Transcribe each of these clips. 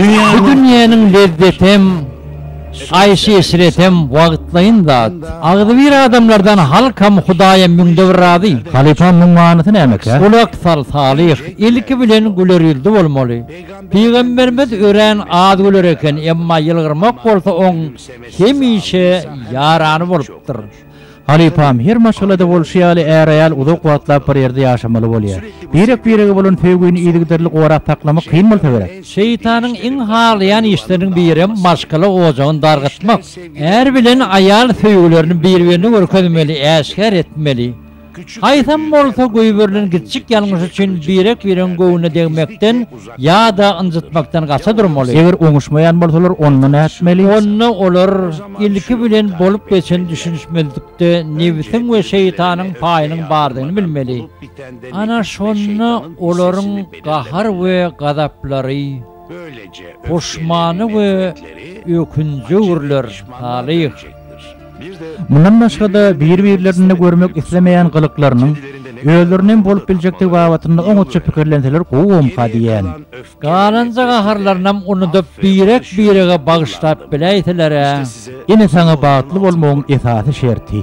Bu dünýäniň lezzetem, aýşy-eşretem wagtlaýyn zat. Agzybir adamlardan halkam, Hudaýam müňde bir razy. Halypa, muň manysy nämekä? Gulak sal, Salyh! Ilki bilen gülerýüzli bolmaly. Pygamberimiz örän az güler eken, emma ýylgyrmak bolsa oň hemişe ýarany bolupdyr. Halypam her maşgalada bolşy ýaly är-aýal uzak wagtlap bir ýerde ýaşamaly bolýar. Birek-birege bolan söýgini yzygiderli gorap saklamak kyn bolsa gerek. Şeýtanyň iň halaýan işleriniň birem maşgala ojagyny dargatmak. Är bilen aýal söýgülerini bir-birine görkezmeli, äşgär etmeli. Haýsam bolsa goýberilen giçjik ýalňyş üçin birek-biregiň göwnüne degmekden ýa-da ynjytmakdan gaça durmaly. Eger oňuşmaýan bolsalar, onda nätmeli? Onda olar, ilki bilen, bolup geçen düşünişmezlikde nebsiň we şeýtanyň paýynyň bardygyny bilmeli. Ana şonda olaryň gahar we gazaplary. Böyleje Goşmany we ökünjüürler talyh. Mundan başga-da bir-birlerinde görmek islemeýän gylyklarynyň özlerinde hem bolup biljekdigi babatynda oňatja pikirlenseler gowumyka diýýän. Galanja gaharlarynam unudyp birek-birege bagyşlap biläýseler-ä. Ine saňa bagtly bolmagyň esasy şerti.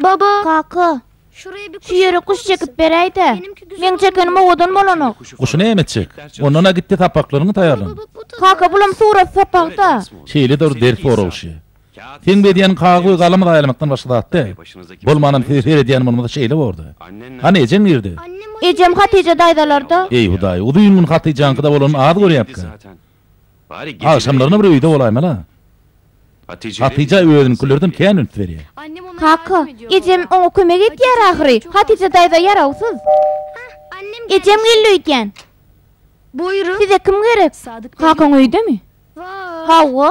Baba! Kaka! Şu ýere guş çekip beräýdä. Meň çekenim owadan bolanok. Guşy näme çek. Ondan-a git-de sapaklaryňy taýýarlan. Kaka, bulam surat sapak-da. Şeýle dur ders soragşy. Seň bu edýäniň kagyz we galamy zaýalamakdan başga zat däl. Bolmanam size seredýän bolmasa şeýle bordy. Hany ejeň nirde? Ejem Hatyja daýzalarda. Eý Hudaý, uzyn gün Hatyjaňkyda bolanyny az görýäpka. Agşamlaryna bir öýde bolaýmaly-a. Hatyja özüniňkilerden kän üns berýär. Kaka, ejem oňa kömek edýär ahyry. Hatyja daýza ýarawsyz. Ejem geldi öýdýän. Size kim gerek? Kakaň öýdemi? Hawa.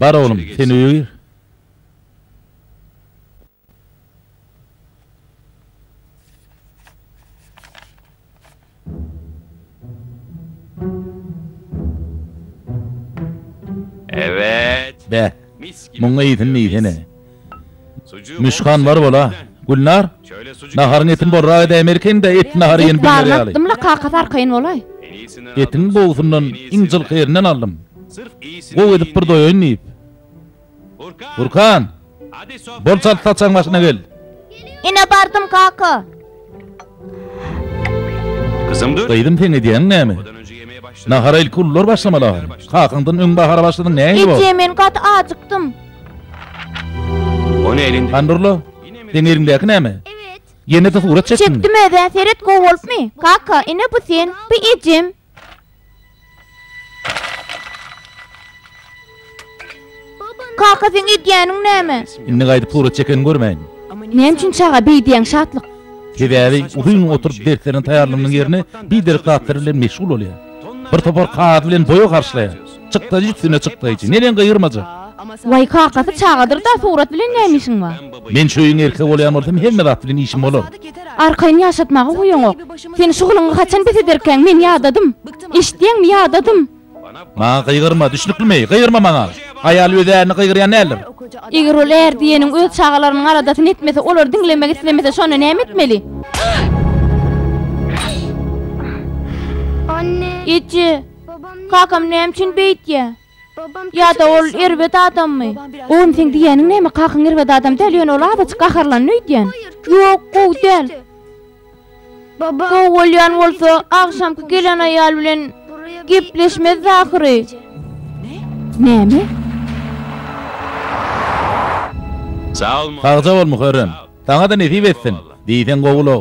Bar oglum, sen öýe gir. Bä, muňa eýsin diýsene. Müşkan bar bol-a. Gülnar, naharyňy etin bolrak edäýmerkeniň-dä, et nahary ýen bilmez ýaly. Etbaryny atdym-la, kakasy arkaýyn bolaý. Etiň gowusyndan iň jylky ýerinden aldym. Gowy edip bir doýaýyn diýip. Gurkan! Bol çalt saçagyň başyna gel! Ine bardym kaka! Gyzym seň edýäň näme? Nahara ilki ulular başlamaly ahyryn. Kakaňdan öň bahara başladyň näme bor? Eje men gaty ajykdym. Hany durla. Seň eliňdäki näme? Ýene-de surat çekdiňmi? Çekdim özä seret gowy bolupmy? Kaka ine bu sen, bu ejem. Kaka seň edýäniň näme? Indi gaýdyp surat çekeni görmäýin. Näme üçin çaga beýdýäň Şatlyk? Sebäbi uzyn oturyp derslerine taýýarlanmagyň ýerine biderek zatlar bilen meşgul bolýar. Bir topar kagaz bilen boýa garşylaýar. Çykdaýjy üstüne çykdaýjy. Neden gyýyrmaja? Waý kakasy çagadyr-da surat bilen näme işiň bar? Men şu öýüň erkegi bolýan bolsam hemme zat bilen işim bolar. Arkaýyn ýaşatmaga huýuňok. Sen şu gylyňy haçan bes ederkäň men ýadadym. Eşitýäňmi ýadadym. Maňa gygyrma düşnüklimi? Gygyrma maňa. Aýal öz ärini gygyrýan däldir. Eger ol är diýeniň öz çagalarynyň aladasyny etmese olary diňlemek islemese şonda näme etmeli? Eje! Kakam näme üçin beýtýä? Ýa-da ol erbet adammy? Oglum, seň diýýäniň näme? Kakaň erbet adam däl, ýöne ol azajyk gaharlandy öýdýän. Ýok, gowy däl. Gowy bolýan bolsa, agşamky gelen aýal bilen gepleşmezdi ahyry. Näme? Sagja bol, Muharrem! Saňa-da nesip etsin! Diýseň gowy-la.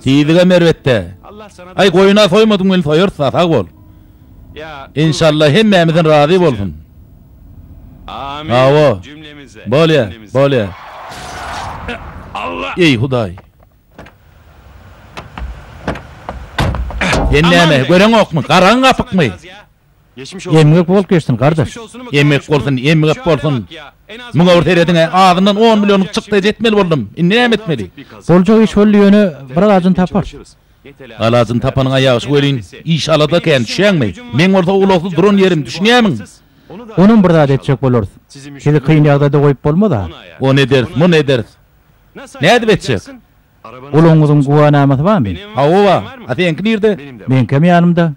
Tizigem erbet-dä. Aý, goýun-a soýmadyň welin soýarys-da, sag bol. Enşalla, hemmämizden razy bolsun! Hawa, bolýa, bolýa. Eý, Hudaý! Sen näme, göreňokmy, garaň gapykmy? Emgek bolt geçsin gardaş. Emgek bolsun emgek bolsun. Muňa bir serediňä azyndan on millionlyk çykdaýy etmeli boldum. Indi näme etmeli? Boljak iş boldy ýöne bir alajyny tapar. Alajyny tapanyňa ýagşy welin iş alada kän düşýäňmi? Meň bolsa ulagsyz duran ýerim düşünýämiň? Onam bir zat etjek bolarys. Sizi kyn ýagdaýda goýup bolmaz-a. Ony ederis, muny ederis. Nädip etjek? Guluňyzyň güwänamasy barmy? Hawa bar. A seňki nirde? Meňkem ýanymda.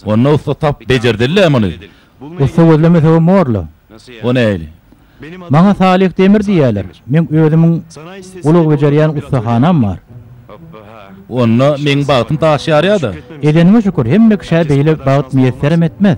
Onda ussa tap bejerdiler-le muny. Ussa gözlemesegem bor-la. O nähili? Maňa Salyh Demir diýýärler. Meň özümiň ulag bejerýän ussahanam bar. Onda meň bagtym daş ýarýa-da. Edeniňe şükür, hemme kişä beýle bagt miýesserem etmez.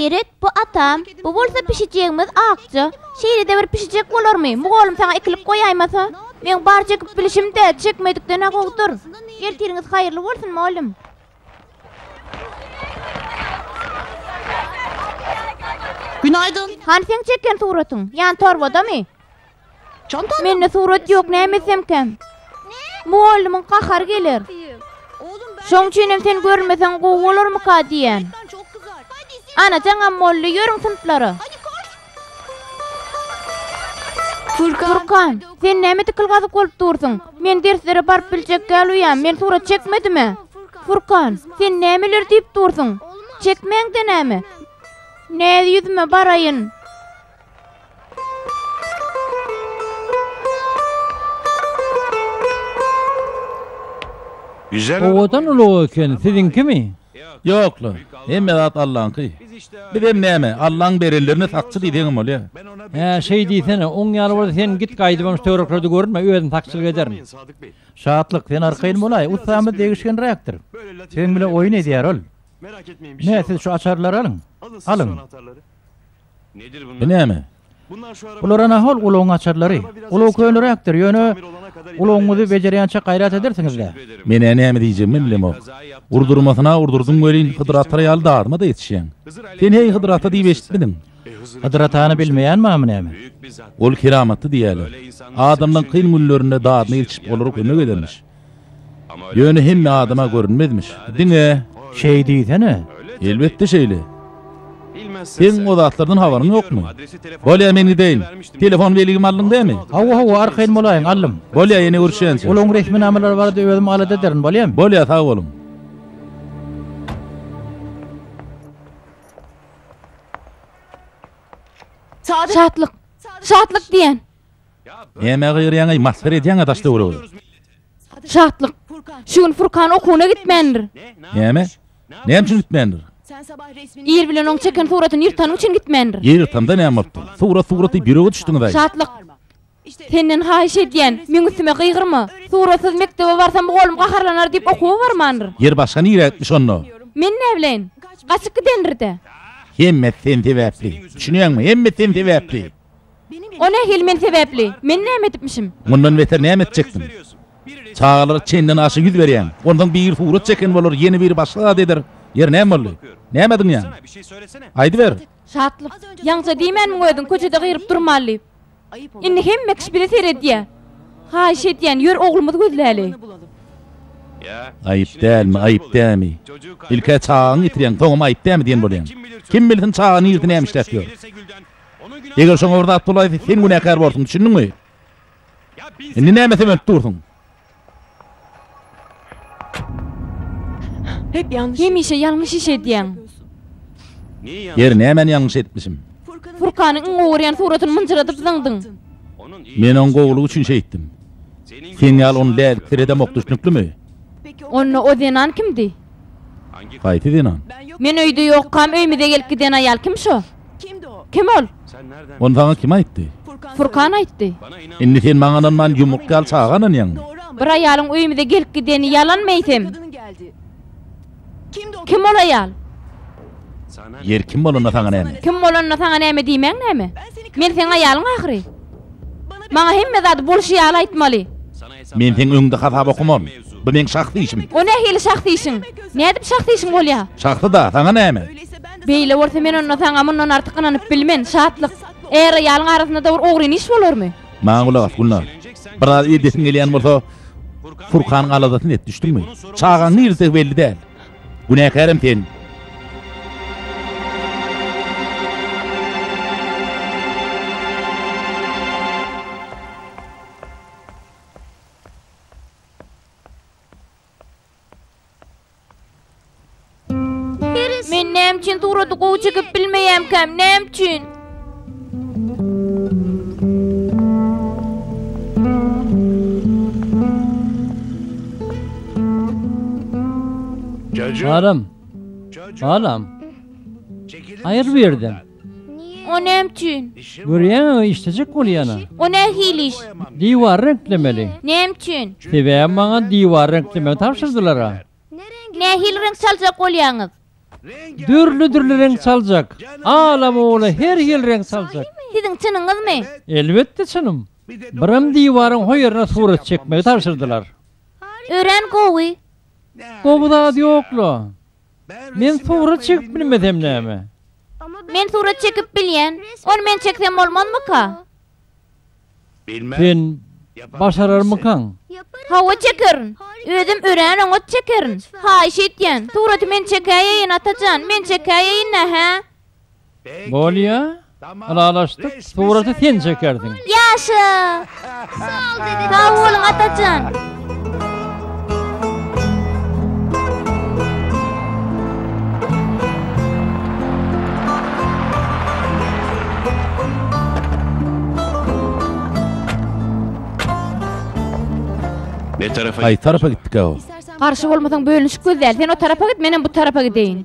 Seret, bu atam, bu bolsa pişijegimiz Akja. Şeýle-de bir pişijek bolarmy? Mugallym saňa ekilip goýaýmasa? Meň barja ekip bilişim-de, çekmedikden-ä gowudyr. Ertiriňiz haýyrly bolsun mugallym. Günaýdyn. Hany seň çeken suratyň? Ýan torbadamy? Çantada. Mende surat ýok näme etsemkäm? Mugallymyň gahary geler. Şoň üçin hem sen görünmeseň gowy bolarmyka diýýän. Anajaňam boldy, ýörüň synplara. Furkan, sen näme dikilgazyk bolup dursuň? Men derslere baryp biljek gäluýam, men surat çekmedimä? Furkan, sen nämeler diýip dursuň? Çekmäň-de näme? Näz ýüzüme baraýyn. Owadan ulag eken, siziňkimi? Ýok-la, hemme zat Allaňky. Bizem näme, Allaň berenlerine sakçy diýseňem bolýar. Hä, şeý diýsene, oň ýaly bolsa sen git gaýdybam şu töwereklerde görünme, özüm sakçylyk ederin. Şatlyk, sen arkaýyn bolaý, ussamyz degişgenräkdir. Seň bilen oýun edýär ol. Hä, siz şu açarlary alyň. Alyň. Nedir bunlar? Bu näme? Bulara nahol ulagyň açarlary? Ulag köneräkdir, ýöne ulagyňyzy bejerýänçä gaýrat edersiňiz-dä. Men-ä näme diýjegimi bilemok. Urdurmasyna urdurdyň welin Hydyr ata ýaly dadyma-da ýetişýäň. Sen heý Hydyr ata diýip eşitmidiň? Hydyr atany bilmeýän bamy näme? Ol keramatly diýýäler. Adamlaň kyn günlerinde dadyna ýetişip olara kömek edermiş. Ýöne hemme adama görünmezmiş. Diňe. Şeý diýsene. Elbetde şeýle. Seň o zatlardan habaryň ýokmy? Bolýa men gideýin. Telefon belgimi aldyň dämi? Hawa, hawa, arkaýyn bolaýyň, aldym. Bolýa ýene görüşýänçä. Olaň resminamalary barada özüm alada ederin, bolýamy? Bolýa, sag boluň. Şatlyk. Şatlyk diýen. Nämä gygyrýaňaý masgara edýäňä daş töweregi. Şatlyk. Şu gün Furkan okuwyna gitmändir. Näme? Näme üçin gitmändir? Ir bilen oň çeken suratyny ýyrtanyň üçin gitmändir. Ýyrtamda näme bolupdyr? Surat suraty biröge düşdüňizaý. Şatlyk. Senden haýyş edýän, meň üstüme gygyrma. Suratsyz mekdebe barsam bu golum gaharlanar diýip okuwa barmandyr. Ýer başga nirä gitmiş onda? Men näbileýin. Gaçyp gidendir-dä. Hemmesi sen sebäpli. Düşünýäňmi? Hemmesi sen sebäpli. O nähili men sebäpli? Men näme edipmişim? Mundan beter näme etjekdiň? Çagalara çenden aşa ýüz berýäň. Onsoň biri surat çeken bolar, ýene biri başga zat eder. Ýeri näme boldy? Näme ediň ýaňy? Aýdyber! Şatlyk, Ýaňça diýmänmiň özüň köçede gygyryp durmaly diýip. Indi hemme kişi bize seredýär. Haýyş edýän, ýör oglumyzy gözläli. Aýyp dälmi, aýyp dämi? Ilk-ä çagaňy ýitirýäň, soňam aýyp dämi diýen bolýaň. Kim bilsin çaga nirde näme işläp ýör? Eger şoňa bir zat bolaýsa, sen günäkär borsuň, düşündiňmi? Indi näme sömenip dursuň? Hemişe ýalňyş iş edýäň. Ýeri, nämäni ýalňyş edipmişim? Furkanyň iň gowy görýän suratyny mynjyradyp zyňdyň. Men oň gowulygy üçin şeýtdim. Seň ýaly ony lälikdir edemok, düşnüklimi? Onda o zenan kimdi? Haýsy zenan? Men öýde ýokam, öýmüze gelip giden aýal kim şo? Kimdi-o? Kim ol? Ony saňa kim aýtdy? Furkan aýtdy. Indi sen maňa ynanman ýumruk ýaly çaga ynanýaňmy? Bir aýalyň öýümize gelip gideni ýalanmy eýsem? Kim ol aýal? Ýeri kim bolanda saňa näme? Kim bolanda saňa näme diýmäň näme? Men seň aýalyň ahyry. Maňa hemme zady bolşy ýaly aýtmaly. Men seň öňüňde hasap okamaryn. Bu meň şahsy işim. O nähili şahsy işiň? Nädip şahsy işiň bolýar? Şahsy-da, saňa näme? Beýle bolsa men onda saňa mundan artyk ynanyp bilmen, Şatlyk. Är-aýalyň arasynda-da bir ogryn iş bolarmy? Maňa gulak as, Gülnar. Biraz edesiň gelýän bolsa, Furkanyň aladasyny et, düşdüňmi? Çagaň nirededigi belli däl. Günäkärem sen. Men näme üçin surady gowy çekip bilmeýämkäm? Näme üçin? Alam. Alam. Aýyr bu ýerden. O näme üçin? Görýäňmi, işlejek bolýan-a. O nähili iş? Diwary reňklemeli. Näme üçin? Sebäbi maňa diwary reňklemegi tabşyrdylar-a. Nähili reňk çaljak bolýaňyz? Dürli-dürli reňk çaljak. Ala-mola her hili reňk çaljak. Siziň çynyňyzmy? Elbetde çynym. Birem diwaryň ho ýerine surat çekmegi tabşyrdylar. Örän gowy. Gowy zat ýok-la. Men surat çekip bilmesem näme? Men surat çekip bilýän. Ony men çeksem bolmazmyka? Sen başararmykaň? Hawa çekerin. Özüm örän oňat çekerin. Haýyş etýän, suraty men çekäýeýin, Atajan, men çekäýeýin-dä, hä? Bolýa, ylalaşdyk, suraty sen çekersiň. Ýaşa! Sag boluň Atajan! Haýsy tarapa gitdikä o? Garşy bolmasaň bölünişik göz däl. Sen o tarapa git, menem bu tarapa gideýin.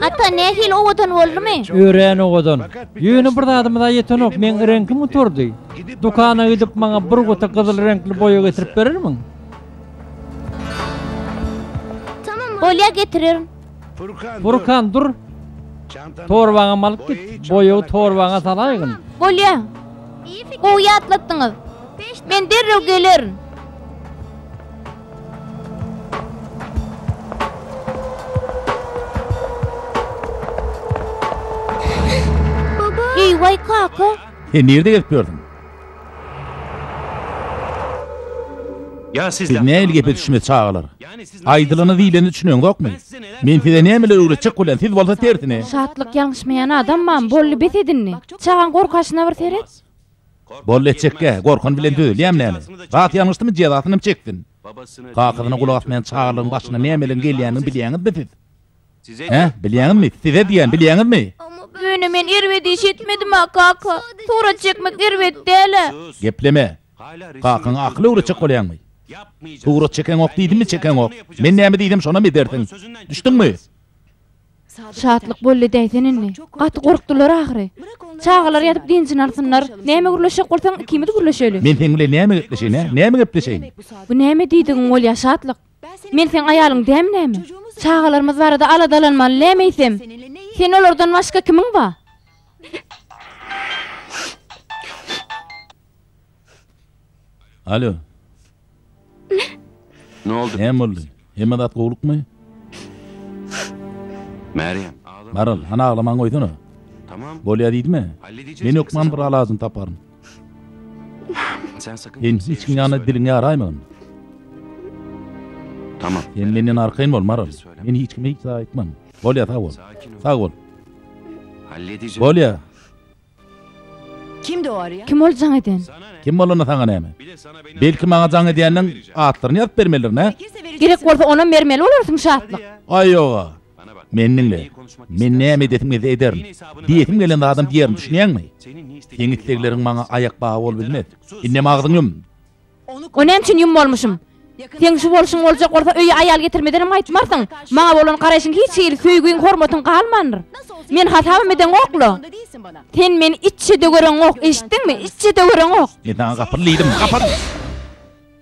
Ata, nähili owadan boldumy? Örän owadan. Ýöne bir zadymyz-a ýetenok, meň reňkim gutardy. Dükana gidip, maňa bir guty gyzyl reňkli boýa getirip berermiň? Bolýa getirerin. Furkan dur. Torbaňa malyk git. Boýagy torbaňa salaýgyn. Bolýa. Gowy ýatlatdyňyz. Men derrew gelerin. Eý, waý kaka. Sen nirde gezip ýörsiň? Siz nähili gepe düşünmez çagalar? Aýdylany diýleni düşüneňzokmy? Men size nämeler öwretjek bolýan, siz bolsa tersine. Şatlyk ýaňyşmaýan adamman, boldy bes edin indi. Çagaň gorkaşyna bir seret. Boldy etjekkä, gorkan bilen dözelýämi näme? Zat ýalňyşdymy jezasynam çeksin. Kakasyna gulak asmaýan çagalaryň başyna nämeleň gelýänini bilýäňizmi siz? Hä, bilýäňizmi, size diýýän, bilýäňizmi? Ýöne men erbet iş etmedim-ä, kaka. Surat çekmek erbet däl-ä. Gepleme. Kakaňa akyl öwretjek bolýaňmy? Surat çekeňok diýdimmi, çekeňok. Men näme diýsem, şonam edersiň. Düşdüňmi? Şatlyk boldy däýsen indi. Gaty gorkdular ahyry. Çagalar ýatyp dynjyny alsynlar. Näme gürleşjek bolsaň, ikimiz gürleşeli. Men seň bilen näme gepleşeýin-ä, näme gepleşeýin? Bu näme diýdigiň bolýar, Şatlyk? Men seň aýalyň dämi näme? Çagalarymyz barada aladalanmaly näme eýsem? Sen olardan başga kimiň ba? Alo. Noldy? Näme boldy? Hemme zat gowlukmy? Merýem. Maral, hany aglamaň goýsana. Tamam. Bolýa diýdimi? Men hökman bir alajyny taparyn. Sen hiç kim ýanyna diliňi ýaraýmagyn. Sen menden arkaýyn bol, Maral. Men hiç kime hiç zat aýtman. Bolýa, sag bol. Sag bol. Bolýa. Kim ol jaň eden? Kim bolanda saňa näme? Belki maňa jaň edýänleriň atlaryny ýazyp bermelidirin, hä? Gerek bolsa onam bermeli bolarsyň, Şatlyk. Aý, ýog-a. Meni diňle. Men näme edesim gelse ederin. Diýesim gelen zadam diýerin, düşünýäňmi? Seň islegleriň maňa aýak bagy bolup bilmez. Indem agzyňy ýum! Ony näme üçin ýummolmuşym? Seň şu bolşuň boljak bolsa, öýe aýal getirmederem gaýtmarsyň. Maňa bolan garaýşyň hiç hili, söýgiň, hormatyň galmandyr. Meni hasabam edeňok-la. Sen meni içje-de göreňok, eşitdiňmi? Içje-de göreňok! Men saňa gapyl diýdim, gapyl!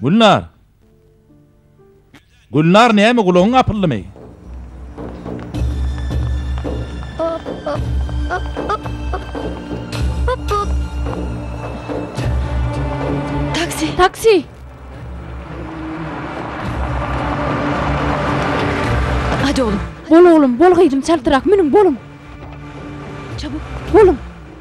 Gülnar! Gülnar näme gulagyň apyldymy? Taksi! Taksi! Hadi oğlum. Bol oglum, bol gyzym, çaltrak münüň, boluň. Çabuk. Boluň.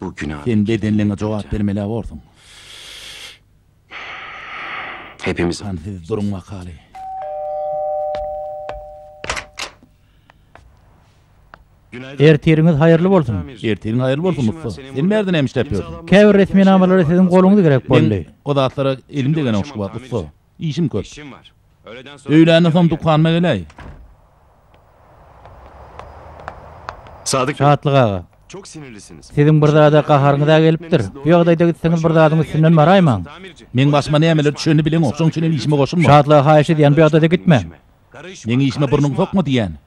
Bu günä. Sen bedenleňe jogap bermelä borsuň. Hepimiz. Hany siz duruň wakaly. Ertiriňiz haýyrly bolsun. Ertiriň haýyrly bolsun ussa. Sen bärde näme işläp ýörsiň? Käbir resminamalary siziň goluňyz gerek boldy. Men o zatlara elim degenok şu wagt ussa. Işim köp. Öýländen soň dukanyma geläý. Şatlyk aga. Siziň bir zada gaharyňyz-ä gelipdir. Bu ýagdaýda gitseňiz bir zadyň üstünden baraýmaň. Meň başyma nämeler düşenini bileňok, şoň üçinem işime goşulma. Şatlyga haýyş edýän, bu ýagdaýda gitme. Meň işime burnuňy sokma diýýän.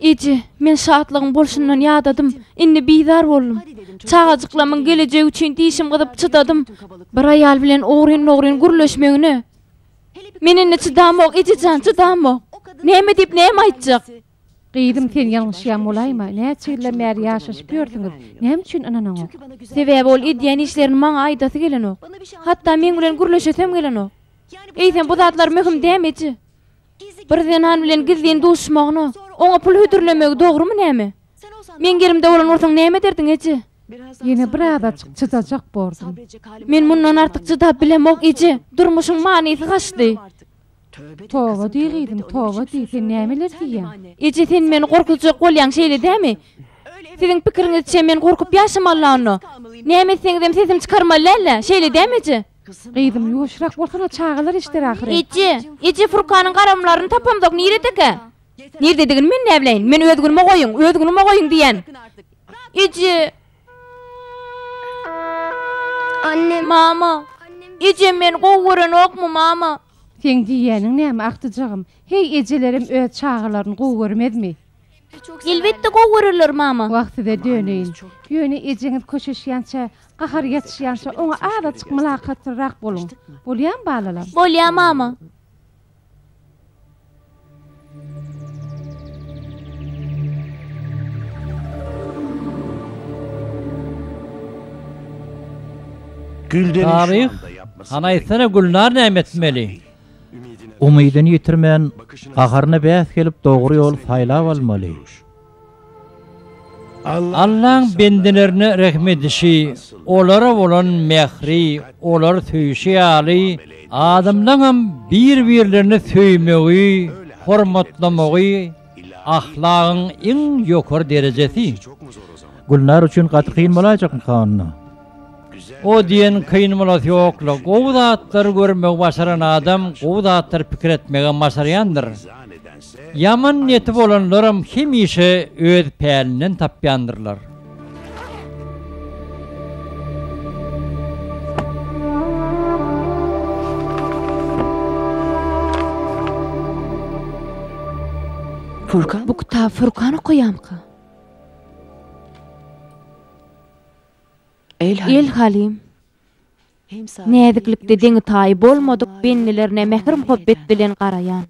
Eje, men şatlygyň bolşundan ýadadym. Indi bizar boldum. Çagajyklamyň gelejegi üçin dişim gyzyp çydadym. Bir aýal bilen ogryn-mogryn gürleşmegine men indi çydamok, eje jan, çydamok. Näme diýip, näme aýtjak? Gyzym, sen ýalňyşýan bolaýma. Näçe ýyldan bäri ýaşaşyp ýörsüňiz. Näme üçin ynanaňok? Sebäbi ol edýän işlerini maňa aýdasy gelenok. Hatda meň bilen gürleşesem gelenok. Eýsem, bu zatlar möhüm däm, eje. Bir zenan bilen gizlin duşmagyny, oňa pul hödürlemegi dogrumy näme? Meň ýerimde bolan bolsaň näme ederdiň, eje? Ýene birazajyk çydajak bordum. Men mundan artyk çydap bilemok, eje. Durmuşyň manysy gaçdy. Toba diý, gyzym, toba diý. Sen nämeler diýýäň? Eje, sen meni gorkuzjak bolýaň, şeýle dämi? Siziň pikiriňizçe, men gorkup ýaşamaly-la onda. Näme etseňizem sesim çykarmaly däl-ä, şeýle dämi, eje? Gyzym ýuwaşrak bolsana çagalar eşder ahyry. Eje! Eje Furkanyň garamlaryny tapamzok niredekä? Nirededigini men näbileýin, men öz günüme goýuň, öz günüme goýuň diýýän. Eje! Mama! Ejem meni gowy görenokmy mama? Seň diýýäniň näme agtyjagym? Heý ejelerem öz çagalaryny gowy görmezmi? Elbetde gowy görerler mama. Wah size döneýin. Ýöne ejeňiz köşeşýänçä, gahary ýatyşýança oňa azajyk mylakatlyrak boluň. Bolýamy balalar? Bolýa mama. Taryh, hany aýtsana Gülnar näme etmeli? Umydyny ýitirmän, gaharyna bäs gelip dogry ýoly saýlap almaly. Allaň bendelerine rehim edişi, olara bolan mähri, olary söýşi ýaly, adamlaňam bir-birlerini söýmegi, hormatlamagy ahlagyň iň ýokary derejesi. Gülnar üçin gaty kyn bolaýjakmyka onda? O diýen kyn bolasy ýokla. Gowy zatlary görmegi başaran adam gowy zatlary pikir etmegem başarýandyr. Ýaman niýeti bolanlaram hemişe öz pälinden tapýandyrlar. Furkan bu kitaby Furkan okaýamyka? El Halim, Näziklikde deňi-taýy bolmadyk bendilerine mähir-muhabbet bilen garaýan.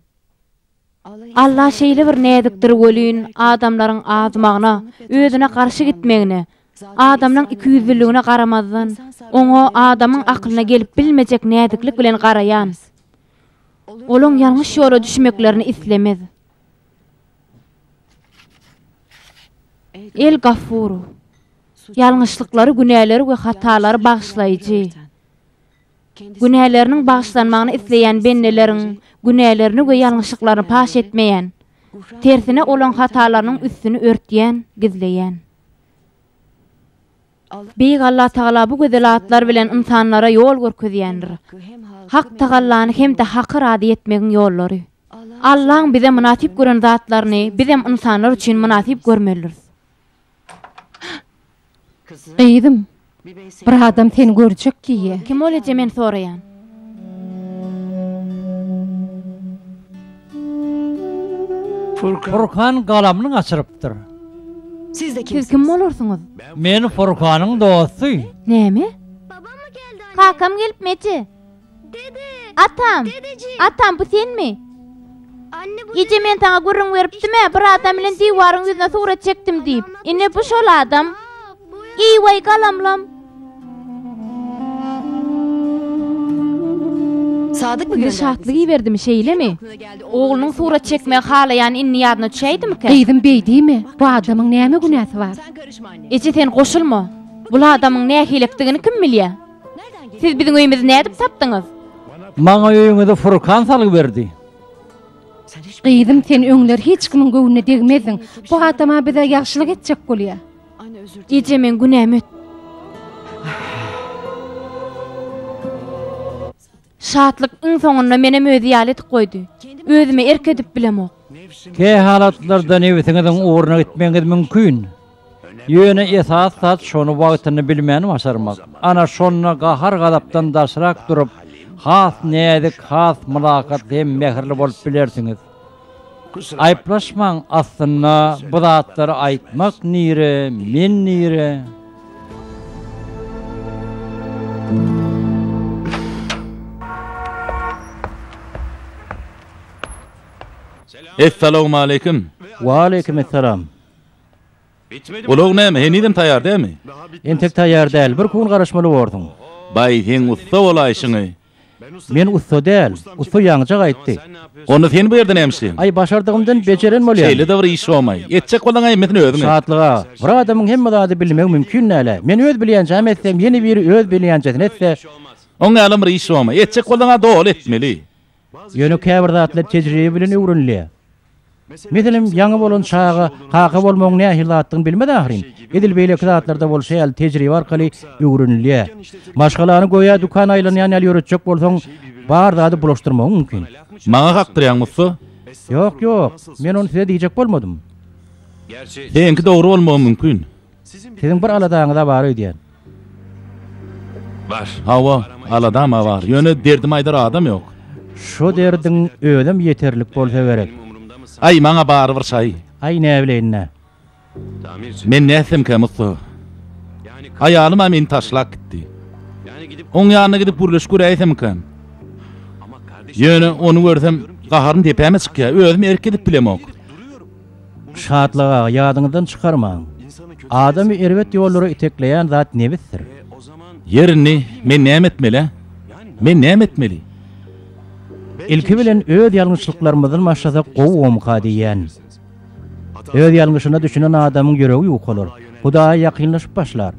Alla şeýle bir näzikdir welin, adamlaryň azmagyna, özüne garşy gitmegine, adamlaryň ikiýüzlüligine garamazdan, oňa adamyň aklyna gelip bilmejek näziklik bilen garaýan. Olaň ýalňyş ýola düşmeklerini islemez. El Gaffuru. Ýalňyşlyklary, günäleri we hatalary bagyşlaýjy. Günäleriniň bagyşlanmagyny isleýän bendeleriň günälerini we ýalňyşlyklaryny paş etmeýän, tersine olaň hatalarynyň üstüni örtýän, gizleýän. Beýik Allatagala bu gözel atlar bilen ynsanlara ýol görkezýändir. Hak tagallany hem-de Haky razy etmegiň ýollary. Allaň bize mynasyp gören zatlaryny bizem ynsanlar üçin mynasyp görmelidiris. Gyzym, bir adam seni görjek diýýä. Kim ol eje men soraýan. Furkan galamyny gaçyrypdyr. Siz kim bolarsyňyz? Men Furkanyň dosty. Näme? Kakam gelipmi eje? Atam! Atam, bu senmi? Eje, men saňa gürrüň beripdim-ä, bir adam bilen diwaryň ýüzüne surat çekdim diýip. Ine, bu şol adam. Eý-waý, galamlam! Biri şatlyk iberdimi, şeýlemi? Oglunyň surat çekmegi halaýany indi ýadyna düşäýdimikä? Gyzym, beý diýme! Bu adamyň näme günäsi bar? Eje, sen goşulma! Bul adamyň nähilekdigini kim bilýär? Siz biziň öýümizi nädip tapdyňyz? Maňa öýüňizi Furkan salgy berdi. Gyzym sen öňler hiç kimiň göwnüne degmezdiň. Bu adama bize ýagşylyk etjek bolýa. Eje meň günäm öt. Şatlyk iň soňunda menem özi ýaly edip goýdy. Özüme erk edip bilemok. Kä halatlarda nebsiňiziň ugruna gitmegiňiz mümkin. Ýöne esasy zat şony wagtynda bilmäni başarmak. Ana şonda gahar-gazapdan daşrak durup, has näzik, has mylakat hem mähirli bolup bilersiňiz. Aýyplaşmaň aslynda bu zatlary aýtmak nire men nire. Essalawmaleýkim. Waleýkim essalam. Ulag näme henizem taýýar dälmi? Entek taýýar däl, bir kun garaşmaly borsuň. Baý seň ussa bolaýşyňy. Men ussa däl. Ussa ýaňyjak aýtdy. Onda sen bu ýerde näme işleýäň? Aý, başardygymdan bejeren bolýan. Şeýle-de bir iş bolmaý. Etjek bolsaň hemmesini özüň et. Şatlyk aga, bir adamyň hemme zady bilmegi mümkin däl-ä. Men öz bilýänjämi etsem, ýene biri öz bilýänjesini etse. Oň ýalam bir iş bolmaý. Etjek bolsaň-a doly etmeli. Ýöne käbir zatlar tejribe bilen öwrenilýär. Meselem, ýaňy bolan çaga kaka bolmagyň nähili zatdygyny bilmez ahyryn. Edil beýleki zatlarda bolşy ýaly tejribe arkaly öwrenilýär. Maşgalany göýä dükan aýlanýan ýaly ýöretjek bolsaň, bar zady bulaşdyrmagyň mümkin. Maňa kakdyrýaňmy ussa? Ýok, ýok. Men ony size diýjek bolmadym. Seňki dogry bolmagy mümkin. Siziň bir aladaňyz-a bar öýdýän. Bar. Hawa, aladam-a bar. Ýöne derdimi aýdar adam ýok. Şo derdiň özem ýeterlik bolsa gerek. Aý, maňa barybir şaý. Aý, näbileýin-dä. Men nätsemkä, Musa. Aýalym-a meni taşlap gitdi. Oň ýanyna gidip gürleşip göräýsemkän. Ýöne ony görsem, gaharym depäme çykýar. Özüm erk edip bilemok. Şatlyk aga, ýadyňyzdan çykarmaň. Adamy erbet ýollara itekleýän zat nebisdir. Ýer indi men näme etmeli-ä? Men näme etmeli? Ilki bilen öz ýalňyşlyklarymyzdan başlasak gowumyka diýýän. Öz ýalňyşyna düşünen adamyň ýüregi ýukalar, Hudaýa ýakynlaşyp başlar.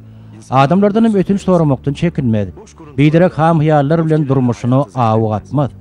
Adamlardanam ötünç soramakdan çekinmez. Biderek ham-hyýallar bilen durmuşyna awy gatmaz.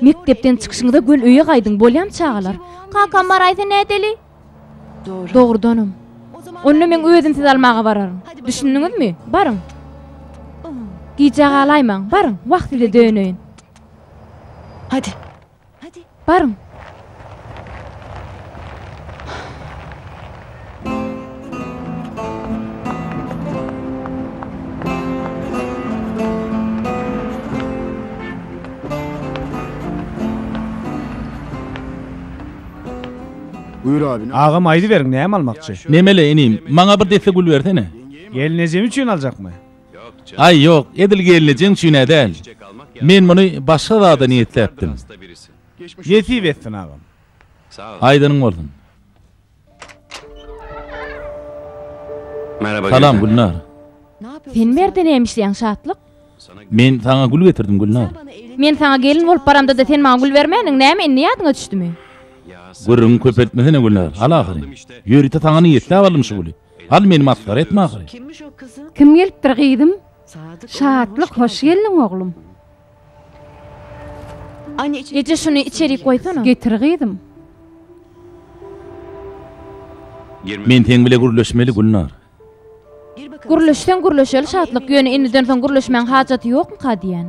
Mekdepden çykyşyňyza göl öýe gaýdyň, bolýamy çagalar? Kakam baraýsa nädeli? Dogrudanam. Onda meň özüm sizi almaga bararyn. Düşündiňizmi? Baryň. Gijä galaýmaň, baryň, wah size döneýin. Hadi, baryň! Agam aýdyberiň näme almakçy? Nemeli, inim, maňa bir desse gül bersene. Gelnejem üçin aljakmy? Aý, ýok, edil gelnejeň üçin-ä däl. Men muny başga zada niýetläpdim. Nesip etsin, agam. Aýdanyň bolsun. Salam, Gülnar. Sen berde näme işleýäň, Şatlyk? Men saňa gül getirdim, Gülnar. Men saňa gelin bolup baramda-da sen maňa gül bermändiň, näme indi ýadyňa düşdümi? Gürrüňi köpeltmesene, Gülnar. Al ahyry. Ýörite saňa niýetläp aldym şu güli. Al meni masgara etme agay. Kim gelipdir gyzym? Şatlyk hoş geldiň oglum. Eje şuny içerik goýsana. Getir gyzym. Men seň bile gürleşmeli Gülnar. Gürleşseň gürleşeli Şatlyk ýöne indiden soň gürleşmäň hajaty ýokmyka diýän.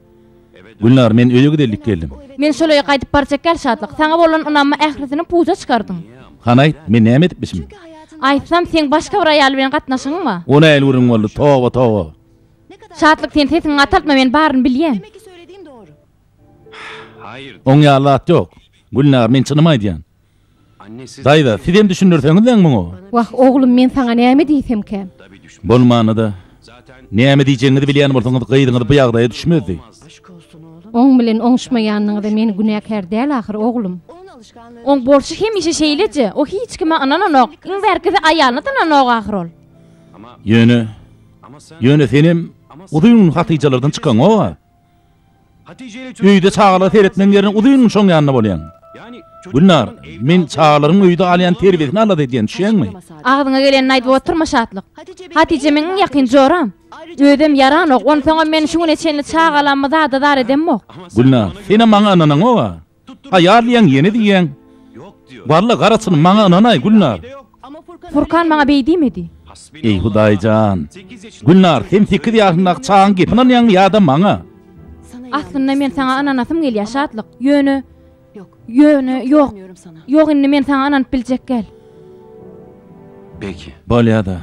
Gülnar, men öýe gidelik geldim. Men şol öýe gaýdyp barjak ýaly şatlyk. Saňa bolan ynamymy ählisini puja çykardyň. Hany aýt, men näme edipmişim? Aýtsam, seň başga bir aýal bilen gatnaşygyň bar. O nähili gürrüň boldy? Toba, toba! Şatlyk, sen sesiňi gataltma, men baryny bilýän. Oň ýaly zat ýok. Gülnar, men çynymy aýdýan. Daýza, sizem düşündirseňiz-däň muňa. Wah, oglum, men saňa näme diýsemkä? Bolmanda-da, näme diýjegiňizi bilýän bolsaňyz, gyzyňyz bu ýagdaýa düşmezdi. Oň bilen oňuşmaýanyňyza men günäkär däl ahyry, oglum. Oň bolşy hemişe şeýleje. O hiç kime ynananok. Iň bärkisi aýalyna-da ynananok ahyry ol. Ýöne, ýöne senem uzyn gün hatyjalardan çykaňok-a. Öýde çagalara seretmegiň ýerine uzyn şoň ýanynda bolýaň. Gülnar, men çagalaryň öýde alýan terbiýesini alada edýän, düşýäňmi? Agzyňa gelenini aýdyp oturma Şatlyk. Hatije meň iň ýakyn joram. Özem ýaranok, onsoňam men şu güne çenli çagalammy zada zar edemok. Gülnar, senem maňa ynanaňok-a. Aýal diýen ýene diýýäň. Walla garasyny maňa ynanaý, Gülnar. Furkan maňa beý diýmedi. Eý Hudaý jan. Gülnar, sen sekiz ýaşyndaky çagaň gepine ynanýaňmy ýa-da maňa? Aslynda men saňa ynanasym gelýär, Şatlyk. Ýöne, ýöne, ýok. Ýok, indi men saňa ynanyp biljekgäl. Bolýa-da.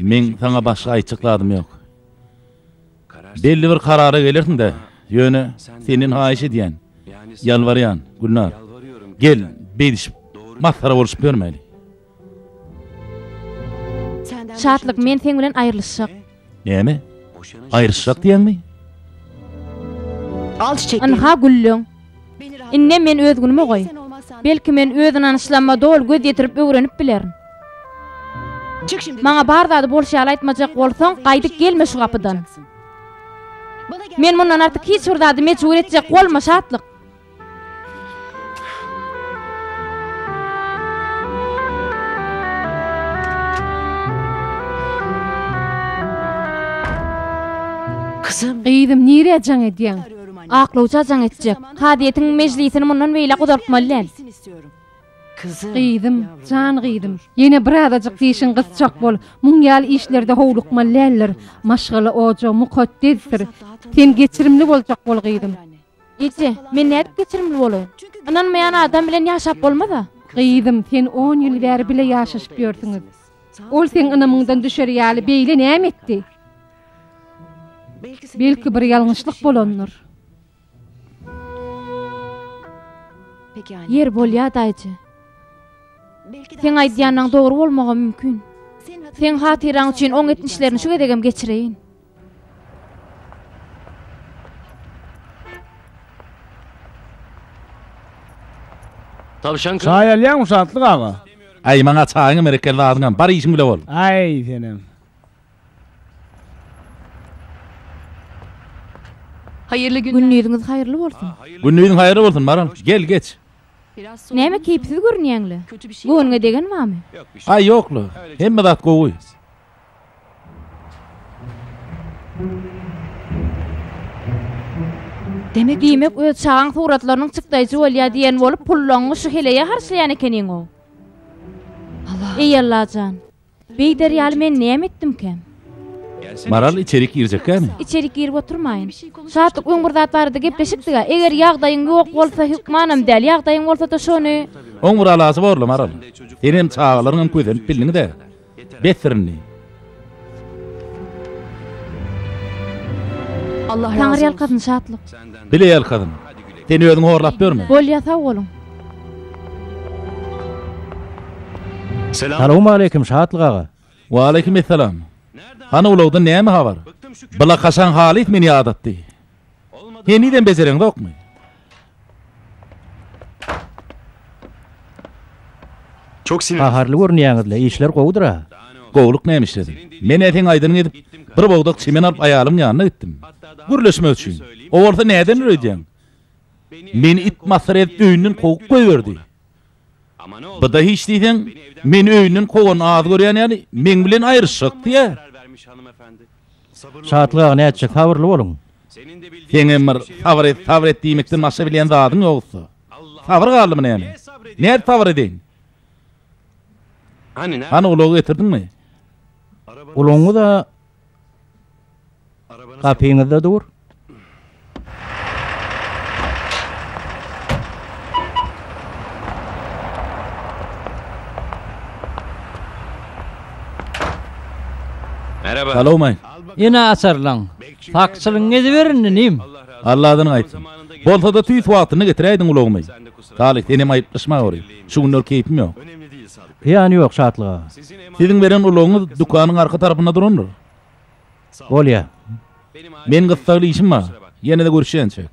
Meň saňa başga aýtjak zadym ýok. Belli bir karara gelersiň-dä. Ýöne, senden haýyş edýän, ýalbarýan, Gülnar. Gel, beýdişip, masgara bolşup ýörmäýli. Şatlyk, men seň bilen aýrylyşjak. Näme? Aýrylyşjak diýýäňmi? Ynha, gülleň. Indem men öz günümi goý. Belki, men öz ynanyşlamyma doly göz ýetirip öwrenip bilerin. Maňa bar zady bolşy ýaly aýtmajak bolsaň, gaýdyp gelme şu gapydan. Men mundan artyk hiç bir zady mejbur etjek bolma, Şatlyk! Gyzym, nirä jaň edýäň? Aklawja jaň etjek. Kazyýetiň mejlisini mundan beýläk uzaltmaly däl. Gyzym, jan gyzym, ýene birazajyk dişiň gysjak bol. Muň ýaly işlerde howlukmaly däldir. Maşgala ojagy mukaddesdir. Sen geçirimli boljak bol, gyzym. Eje, men nädip geçirimli bolaýyn? Ynanmaýan adam bilen ýaşap bolmaz-a. Gyzym, sen on ýyl bäri bile ýaşaşyp ýörsüňiz. Ol seň ynamyňdan düşer ýaly beýle näme etdi? Belki bir ýalňyşlyk bolandyr. Ýeri bolýa, daýyja. Seň aýdýanyň dogry bolmagam mümkin. Seň hatyraň üçin oň etmişlerini şu gezegem geçireýin. Çaý alýaňmy Şatlyk aga? Aý, maňa çaýyňam, berekella, azyňam. Bar işiň bile bol. Aý, senem. Haýyrly günler. Gündiziňiz haýyrly bolsun. Gündiziň haýyrly bolsun, Maral. Gel, geç. Näme keýpsiz görünýäň-le? Göwnüňe degen bamy? Aý, ýok-la. Hemme zat gowy. Diýmek, öz çagaň suratlarynyň çykdaýjy bolýa diýen bolup, pullaňňy şu heleýe harçlaýan ekeniň-ow. Eý, Allajan! Beýder ýaly men näme etdimkä? Maral içerik girjekkämi? Içerik girip oturmaýyn. Şatlyk öň bir zat barada gepleşikdiga, eger ýagdaýyň ýok bolsa hökmanam däl, ýagdaýyň bolsada şony. Oň bir alasy borla Maral. Senem çagalaryňam kösenip bildiňdä. Betdir indi. Taňyrýalkasyn Şatlyk. Bileýalkasyn. Sen özüň horlap dörme. Bolýa sag boluň. Salowmaleýkim Şatlyk aga. Waleýkim essalam. Hany ulagdan näme habar? Blakaşaň halys meni ýadatdy. Henizem bejereňzokmy? Gaharly görünýäňiz-le, işler gowudyr-a? Gowulyk nämişledi. Men-ä seň aýdanyňy edip, bir bogdak çemen alyp aýalyň ýanyna gitdim. Gürleşmek üçin. O bolsa näden dur öýdýäň? Meni it masyr edip öýünden kowup goýberdi. Bu-da hiç diýseň, meni öýünden kowanyny az görýän ýaly, meň bilen aýryşjakdy-ä. Şatlyk aga nätjek, sabyrly boluň. Seň hem bir, sabyr et, sabyr et diýmekden başga bilýän zadyň ýogsa. Sabyr galdymy näme? Nädip sabyr edeýin? Hany ulagy getirdiňmi? Ulagyňyz-a gapyňyzda dur. Salowmaý. Ine açarlaň. Sakçylygyňyzy beriň inim. Alla adyny aýtsyn. Bolsada tüýs wagtynda getiräýdiň ulagymy. Salyh senem aýyplaşma gory. Şu günler keýpim ýok. Zyýany ýok Şatlyk aga. Siziň beren ulagyňyz dükanyň arka tarapynda durandyr. Bolýa. Men gyssagly işim bar. Ýene-de görüşýänçäk.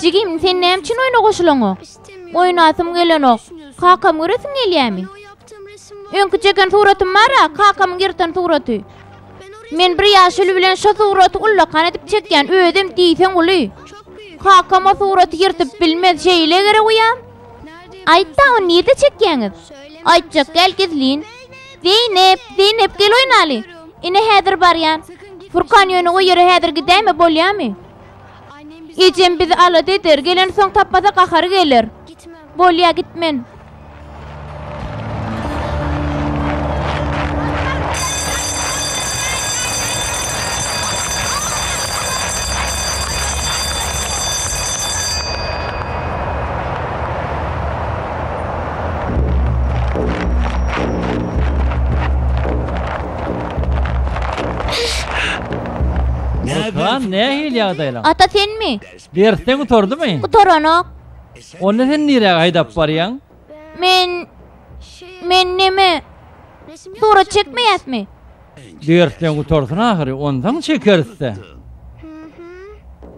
Jigim, sen näme üçin oýna goşulaňok? Oýnasym gelenok. Kakamy göresiň gelýärmi? Öňki çeken suratym bar-a, kakamyň ýyrtan suraty. Men bir ýaşuly bilen şo suraty ullakan edip çekýän, özem diýseň uly. Kakam o suraty ýyrtyp bilmez, şeýle gerek uýa. Aýt-da, ony nirde çekýäňiz? Aýtjak däl, gizlin. Zeýnep, Zeýnep, gel oýnaly. Ine, häzir barýan. Furkan ýöne o ýere häzir gidäýme, bolýamy? Ejem bizi alada eder, gelensoň tapmasa gahary geler. Bolýa, gitmen. Gürkan, nähili ýagdaýlaň? Ata senmi? Dersleň gutardymy? Gutaranok. Onda sen niräge haýdap barýaň? Men men neme? Surat çekmeýäsmi? Dersleň gutarsyn ahyry, onsoň çekeris-dä.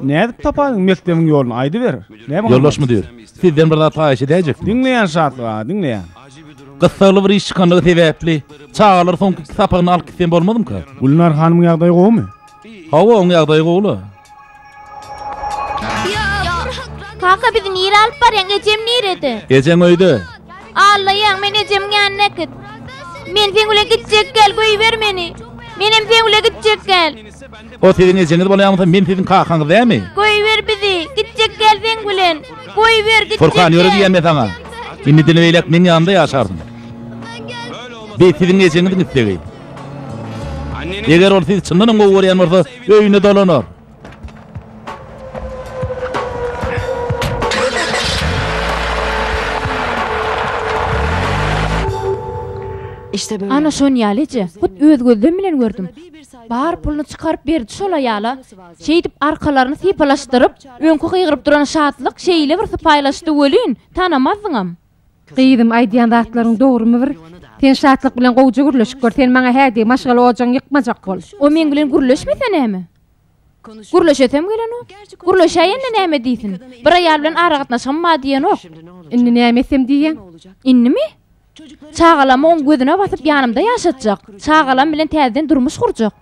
Nädip tapaýyn mekdebiň ýoluny aýdyber. Ýoldaş müdir, sizden bir zat haýyş edäýjekdim. Diňleýän Şatlyk aga, diňleýän. Gyssagly bir iş çykanlygy sebäpli, çagalar soňky iki sapagyny alyp gitsem bolmazmyka? Gülnar hanymyň ýagdaýy gowumy? Hawa, oň ýagdaýy gowy-la. Kaka bizi nire alyp barýaň ejem nirede. Ejeň öýde. Aglaýaň men ejemiň ýanyna äkit. Men seň bilen gitjek gel göýber meni. Menem seň bilen gitjek gel. O siziň ejeňiz bolýamysa men siziň kakaňyz dämi. Goýber bizi, gitjek däl seň bilen. Goýber, gitjek däl. Furkan ýöre diýýän men saňa. Indiden beýläk meň ýanymda ýaşarsyň. Bi siziň ejeňiziň islegi. Eger ol sizi çyndanam gowy görýän bolsa öýüne dolanar. Ana şon ýaly eje, hut öz gözlem bilen gördüm. Bar puluny çykaryp berdi şol aýala. Şeýdip arkalaryny sypalaşdyryp, öňki gygyryp duran Şatlyk şeýle bir sypaýylaşdy welin, tanamazdyňam. Gyzym, aýdýan zatlaryň dogrumy bir? Sen Şatlyk bilen gowja gürleşip gör, sen maňa hä diý, maşgala ojagyňy ýykmajak bol. O meň bilen gürleşmese näme? Gürleşesem gelenok. Gürleşäýende näme diýsin? Bir aýal bilen aragatnaşygym bar diýenok. Indi näme etsem diýýäň? Indimi? Çagalamyň gözüne basyp ýanymda ýaşatjak. Çagalam bilen täzeden durmuş gurjak.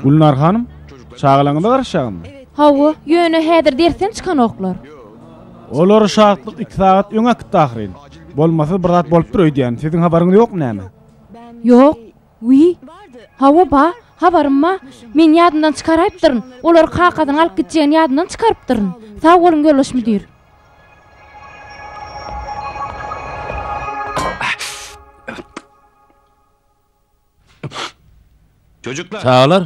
Gülnar hanym, çagalaryňyza garaşýaňyzmy? Hawa, ýöne häzir dersden çykanoklar. Olar şatlyk iki sagat öňe gitdi ahyryn. Bolmasa bir zat bolupdyr öýdýän. Siziň habaryňyz ýokmy näme? Ýok. Wiý. Hawa ba, habarym ba. Men ýadymdan çykaraýypdyryn. Olar kakasyny alyp gitjegini ýadymdan çykarypdyryn. Sag boluň ýoldaş müdir. Çagalar,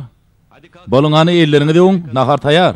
boluň hany elleriňizi ýuwuň, nahar taýýar.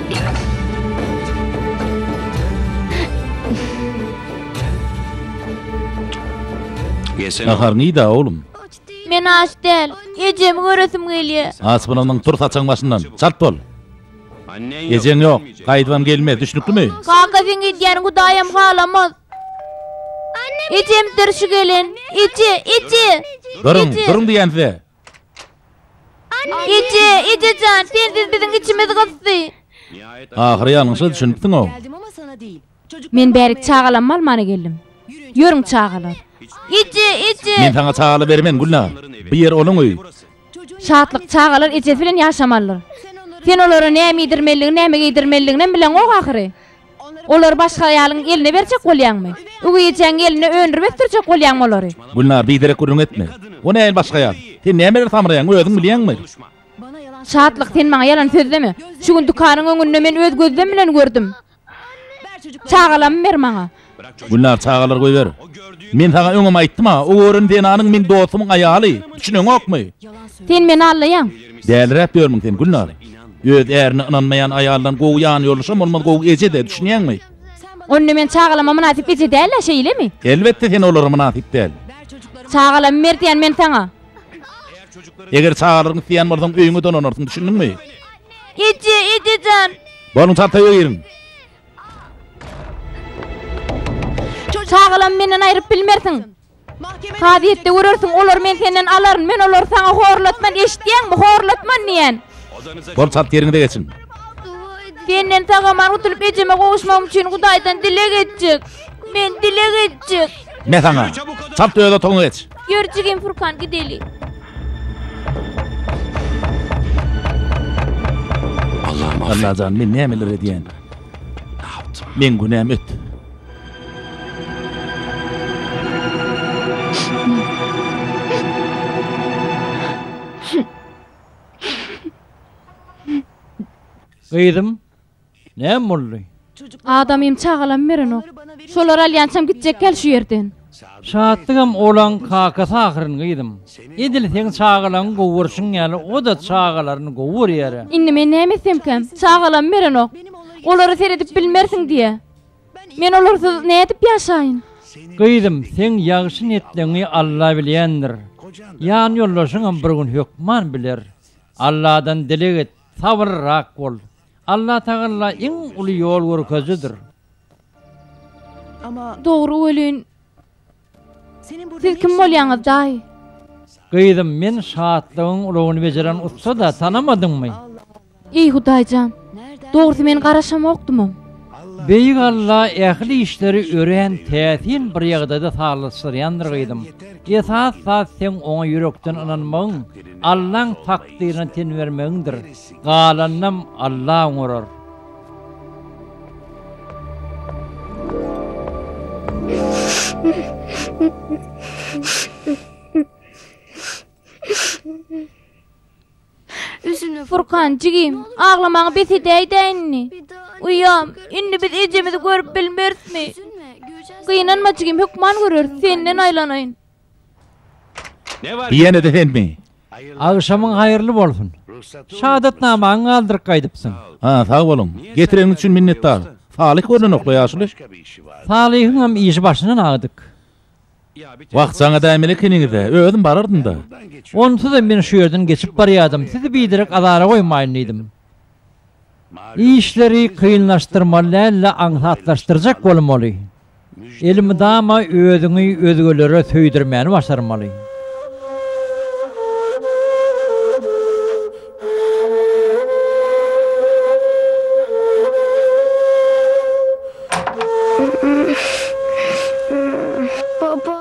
Nahar nida oglum? Men aç däl. Ejemi göresim gelýär. Aç bolanyň tur saçagyň başyndan. Çalt bol. Ejeň ýok. Gaýdybam gelmez. Düşnüklimi? Kaka sen gidýäniň Hudaýam halamaz. Ejem dyrşy gelen. Eje, eje. Duruň, duruň diýýän size. Eje, eje jan, sensiz biziň içimiz gysdy. Ahyry ýalňyşa düşünipsiň-ow. Men bärik çagalamy almana geldim. Ýörüň çagalar. Eje, eje. Men saňa çagaly bermen, Gülnar. Bu ýer onuň öýi. Şatlyk, çagalar ejesi bilen ýaşamalydyr. Sen olara näme iýdirmelidigini, näme geýdirmelidiginem bileňok ahyry. Olary başga aýalyň eline berjek bolýaňmy? Öweý ejäň eline öndürip ösdürjek bolýaňmy olary? Gülnar, biderek gürrüň etme. Ony äýl başga aýal. Sen nämeler samraýaň, özüň bilýäňmi? Şatlyk, sen maňa ýalan sözleme. Şu gün dükanyň öňünde men öz gözlem bilen gördüm. Çagalamy ber maňa. Gülnar, çagalary goýber. Men saňa öňem aýtdym-a, o gören zenanyň meň dostumyň aýaly. Düşüneňokmy? Sen meni aldaýaň. Däliräp ýörmüň sen, Gülnar? Öz ärine ynanmaýan aýaldan gowy ýanýoldaşam bolmaz, gowy eje-de, düşünýäňmi? Onda men çagalama mynasyp eje däl-ä, şeýlemi? Elbetde sen olara mynasyp däl. Çagalamy ber diýän men saňa. Eger çagalaryňy isleýän bolsaň, öýüňe dolanarsyň, düşündiňmi? Eje, ejejan! Bolyň, çartaýa giriň. Çagalamy menden aýryp bilmersiň. Kazyýetde görersiň, olary men senden alaryn. Men olary saňa horlatman, eşitýäňmi, horlatman diýen. Bol çalt ýeriňize geçiň. Senden sag-aman gutulyp ejeme gowuşmagym üçin Hudaýdan dileg etjek. Men dileg etjek. Men saňa. Çalt öz otagyňa geç. Ýör jigim Furkan gideli. Allajan men nämeler edýän. Meň günäm öt. Gyzym. Näme boldy? Adamym çagalam berenok. Şolary alýançam gitjekgäl şu ýerden. Şatlygam olaň kakasy ahyryn gyzym. Edil seň çagalaňy gowy görşüň ýaly o-da çagalaryny gowy görýär-ä. Indi men näme etsemkäm? Çagalam berenok. Olara seredip bilmersiň diýýä. Men olarsyz nädip ýaşaýyn? Gyzym, seň ýagşy niýetleňi Alla bilýändir. Ýanýoldaşyňam bir gün hökman biler. Alladan dileg et, sabyrlyrak bol. Allatagalla iň uly ýol görkezijidir. Dogry welin, siz kim bolýaňyz daýy? Gyzym, men şatlygyň ulagyny bejeren ussada, tanamadyňmy? Eý Hudaýjan, dogrusy men garaşamokdymam. Beýik Alla ähli işleri örän täsin bir ýagdaýda sazlaşdyrýandyr gyzym. Esas zat seň oňa ýürekden ynanmagyň, Allaň takdyryna ten bermegiňdir. Galanynam Alla oňarar. Furkan, jigim, aglamaňy bes edäýdä indi. Uýam, indi biz ejemizi görüp bilmerismi? Gynanma jigim, hökman göreris, senden aýlanaýyn. Ýene-de senmi? Agşamyň haýyrly bolsun. Şadatnamaňy galdyryp gaýdypsyň. Ha, sag boluň. Getireniňiz üçin minnetdar. Salyh görnenok-la ýaşuly. Salyhyňam işi başyndan agdyk. Wagtjaň edäýmeli ekeniňiz-dä. Özüm barardym-da. Onsuzam men şu ýerden geçip barýardym, sizi biderek azara goýmaýyn diýdim. Işleri kynlaşdyrmaly däl-de aňsatlaşdyrjak bolmaly. Elmydama özüňi özgelere söýdürmäni başarmaly.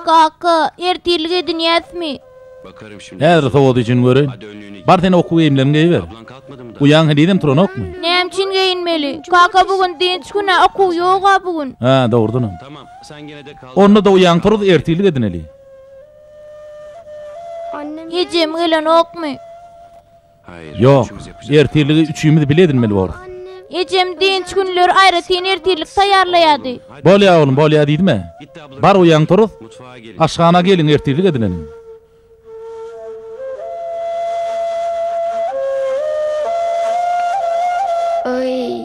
Kaka, ertirlik edinýäsmi? Häzir sowady üçin göreýin. Bar sen okuw geýimleriňi geýiber. Uýaň henizem turanokmy? Näme üçin geýinmeli? Kaka bu gün dynç gün-ä, okuw ýog-a bu gün. Hä, dogrudanam. Onda-da uýaň turuz ertirlik edineli. Ejem gelenokmy? Ýok, ertirligi üçimiz bile edinmeli borus. Ejem dynç günleri aýratyn ertirlik taýýarlaýardy. Bolýar, oglum, bolýar diýdim-ä. Bar uýaň turuz, aşhana geliň, ertirlik edineliň. Oý!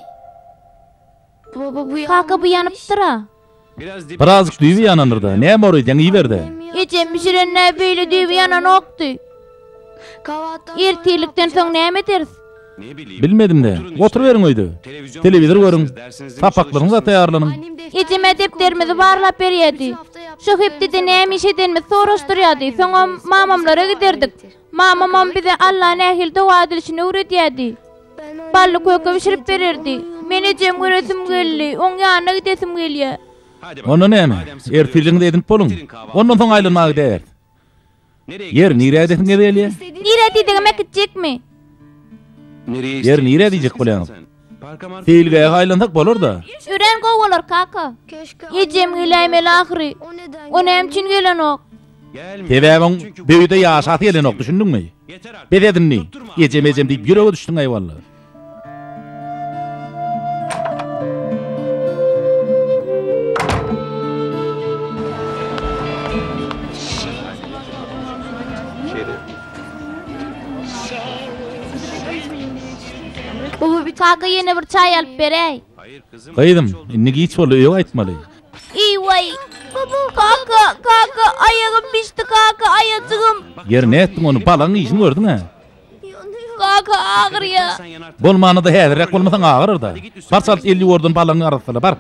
Kaka bu ýanypdyra. Birazjyk düýbi ýanandyr-da. Näme oreý diýýäň iýiber-de. Ejem bişirende beýle düýbi ýananokdy. Ertirlikden soň näme ederis? Bilmedim-de. Oturyberiň öýde. Telewizor görüň. Sapaklaryňyza taýýarlanyň. Ejem-ä depderimizi barlap berýärdi. Şo hepdede näme iş edenimizi soraşdyrýardy. Soňam mamamlara giderdik. Mamamam bize Alla nähili doga edilişini öwredýärdi. Bally köke bişirip bererdi. Men ejem göresim geldi. Oň ýanyna gidesim gelýär. Onda näme? Ertiriňizi edinip boluň. Ondan soň aýlanmaga gideris. Ýeri, nirä gidesiňiz gelýär? Nirä diýdigime gitjekmi? Ýeri, nirä diýjek bolýaňyz? Seýilgähe aýlansak bolar-da. Örän gowy bolar, kaka. Ejem geläýmeli ahyry. O näme üçin gelenok? Sebäbi oň bu öýde ýaşasy gelenok, düşündiňmi? Bes et indi. Ejem, ejem diýip ýürege düşdüň, eýwalla. Baba bir taka ýene bir çaý alyp beräý. Gyzym, indi giç boldy, öýe gaýtmaly. Eý-weý! Baba, kaka, kaka, aýagym bişdi, kaka, aýajygym. Ýeri nätdiň ony, balaň yjyny gördüň-ä. Kaka, agyrýar. Bolmanda-da häzirräk bolmasaň agyryr-da. Bar çalt elli ýordan balaňy arassala, bar.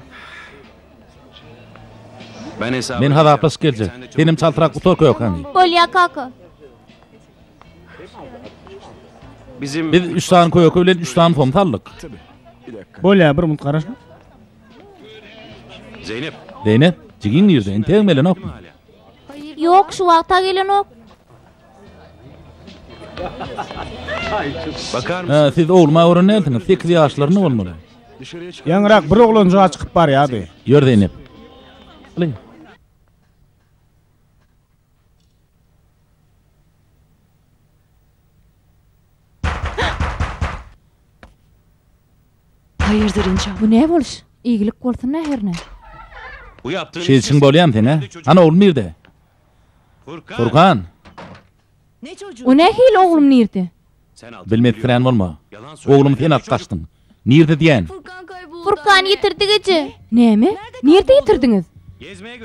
Men hasaplaşyp geljek. Senem çaltrak gutar kökeni. Bolýar kaka. Biz üç sany köke bilen üç sany som saldyk. Bolýar bir minut garaş. Zeynep. Zeynep, jigiň nirde? Entegem gelenokmy? Ýok, şu wagta gelenok. Siz ogluma gören näsiňiz? Sekiz ýaşlarynda bolmaly. Ýaňyrak bir oglanjyga çykyp barýardy. Ýör Zeýnep. Lyň. Haýyrdyr enjam. Bu ne boluş? Iygilik bolsun-a herne. Şeýdişiň bolýamy seň-ä? Hany oglum nirde? Furkan! O nähili oglum nirde? Bilmekpilän bolma. Oglum sen alyp gaçdyň. Nirde diýän? Furkan ýitirdik eje. Näme? Nirde ýitirdiňiz?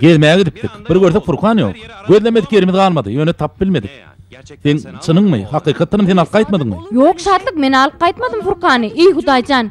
Gezmä gidipdik. Bir görsek Furkan ýok. Gözlemedik ýerimiz galmady. Ýöne tapyp bilmedik. Seň çynyňmy, hakykatdanam sen alyp gaýtmadyňmy? Ýok Şatlyk men alyp gaýtmadym Furkany, eý Hudaýjan.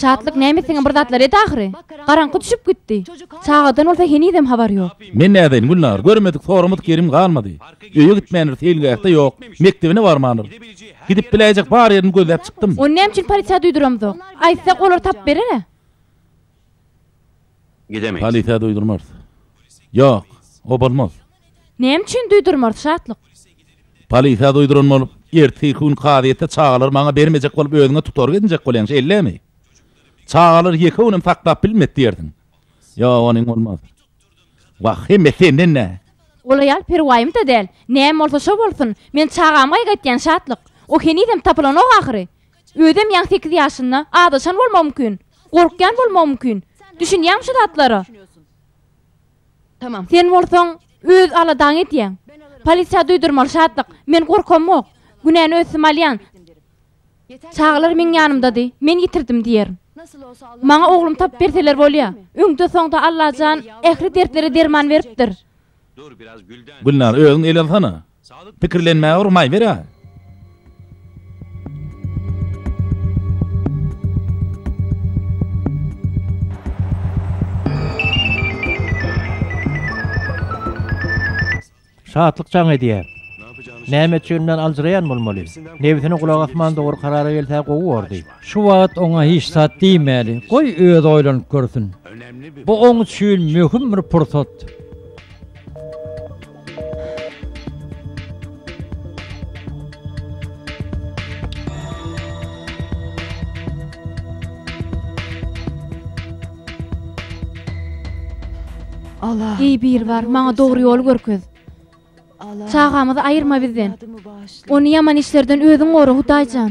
Şatlyk näme siňe bir zatlar et ahyry. Garaňky düşüp gitdi. Çagadan bolsa henizem habar ýok. Men nädeýin Gülnar, görmedik sorumyz kerim galmady. Öýe gitmändir seýilgähde ýok, mekdebine barmandyr. Gidip biläýjek bar ýerini gözläp çykdym. Ony näme üçin polisiýa duýduramzok? Aýtsak olar tapyp berer-ä. Gidemeýs. Polisiýa duýdurmarys. Ýok, o bolmaz. Näme üçin duýdurmarys, Şatlyk? Polisiýa duýduran bolup, ertiki gün kazyýetde çagalary maňa bermejek bolup özüňe tutorga edinjek bolýaň, şeýlemi? Çagalary ýeke gün hem saklap bilmedi diýersiň. Ýok, onuň bolmaz. Wah, hemme senden-ä! Ol aýal perwaýym-da däl. Näme bolsa şo bolsun. Men çagamy gaýgaýtýan, Şatlyk. O henizem tapylanok ahyry. Özem ýaňy sekiz ýaşynda azaşan bolmagy mümkin. Gorkýan bolmagy mümkin. Düşünýäňmi şu zatlara? Sen bolsaň, öz aladaňy edýäň. Polisiýa duýdurmaly, Şatlyk. Men gorkamok. Günäni öz üstüme alýan. Çagalar meň ýanymdady. Men ýitirdim diýerin. Maňa oglum tapyp berseler bolýa. Öňde-soňda Allajan ähli dertlere derman beripdir. Gülnar, özüň el alsana. Pikirlenmäge urmaý ber-ä! Şatlyk jaň edýär. Näme üçin men aljyraýan bolmaly? Nebsine gulak asman dogry karara gelse gowy bordy. Şu wagt oňa hiç zat diýmäli, goý özi oýlanyp görsün. Bu oň üçin möhüm bir pursat. Eý, Biribar, maňa dogry ýoly görkez. Çagamyzy aýyrma bizden. Ony ýaman işlerden özüň gora, Hudaýjan.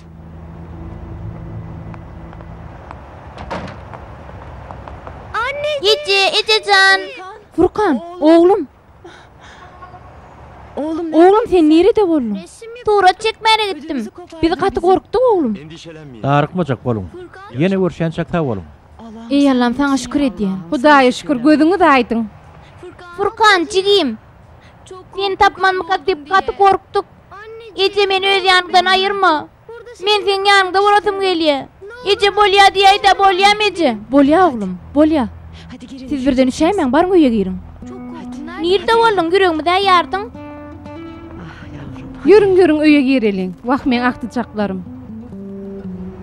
Eje, ejejan. Furkan, oglum. Oglum, oglum sen nirede boldun? Surat çekmäne gitdim. Biz gaty gorkduk oglum. Darykmajak boluň. Ýene görşänçäk sag boluň. Eý Allam, saňa şükür edýän. Hudaýa şükür, gözüňiz aýdyň. Furkan, jigim. Seni tapmanmyka diýip gaty gorkduk. Eje, meni öz ýanyňdan aýyrma. Men seň ýanyňda bolasym gelýä. Eje, bolýa diýäý-dä, bolýam, eje! Bolýa, oglum, bolýa. Siz birden üşäýmäň, baryň öýe giriň. Nirde bolduň, ýüregimizi aýardyň? Ýörüň, ýörüň, öýe gireliň. Wah, meň agtyjaklarym!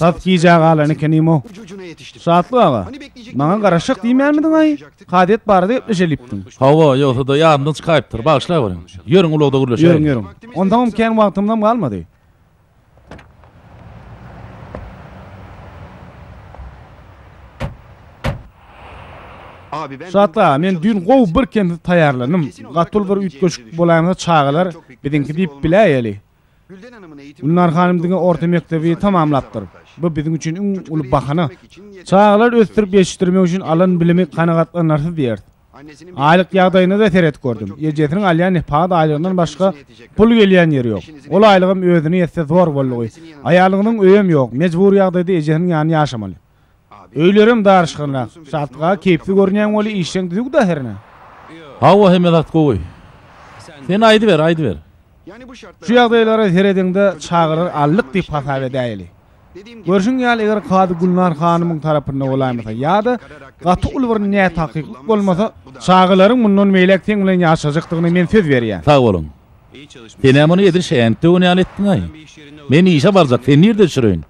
Has gijä galan ekenim-ow. Şatlyk aga, maňa garaşjak diýmänmidiň-aý? Kazyýet barada gepleşelipdiň. Hawa, ýogsa-da ýadymdan çykaýypdyr. Bagyşlaýberiň. Ýörüň, ulagda gürleşeliň. Ýörüň, ýörüň. Onsoňam kän wagtymyzam galmady. Şatlyk aga, men düýn gowy birkemsiz taýýarlandym. Gaty uly bir üýtgeşik bolaýmasa çagalar biziňki diýip biläýeli. Gülnar hanym diňe orta mekdebi tamamlapdyr. Bu biziň üçin iň uly bahana. Çagalary ösdürip ýetişdirmek üçin alan bilimi kanagatlanarsyz diýeris. Aýlyk ýagdaýyna-da seredip gördüm. Ejesiniň alýan nepagat aýlygyndan başga pul gelýän ýeri ýok. Ol aýlygam özüne ýetse zor boldugy. Aýalynyň öýem ýok. Mejbury ýagdaýda ejesiniň ýanyna ýaşamaly. Öýlerem daryşgynrak. Şatga, keýpli görünýäň weli işleň düzüwda hernä? Hawa hemme zat gowy. Sen aýdyber, aýdyber. Şu ýagdaýlara serediňde çagyrar aldyk diýip hasap edäýeli. Görşüň ýaly eger kazy Gülnar hanymyň tarapynda bolaýmasa ýa-da gaty uly bir nätakyklyk bolmasa çagalaryň mundan beýläk seň bilen ýaşajakdygyna men söz berýän. Sag boluň. Senem ony edil şänik döwen ýaly etdiňaý. Men işe barjak, seni nirde düşüreýin?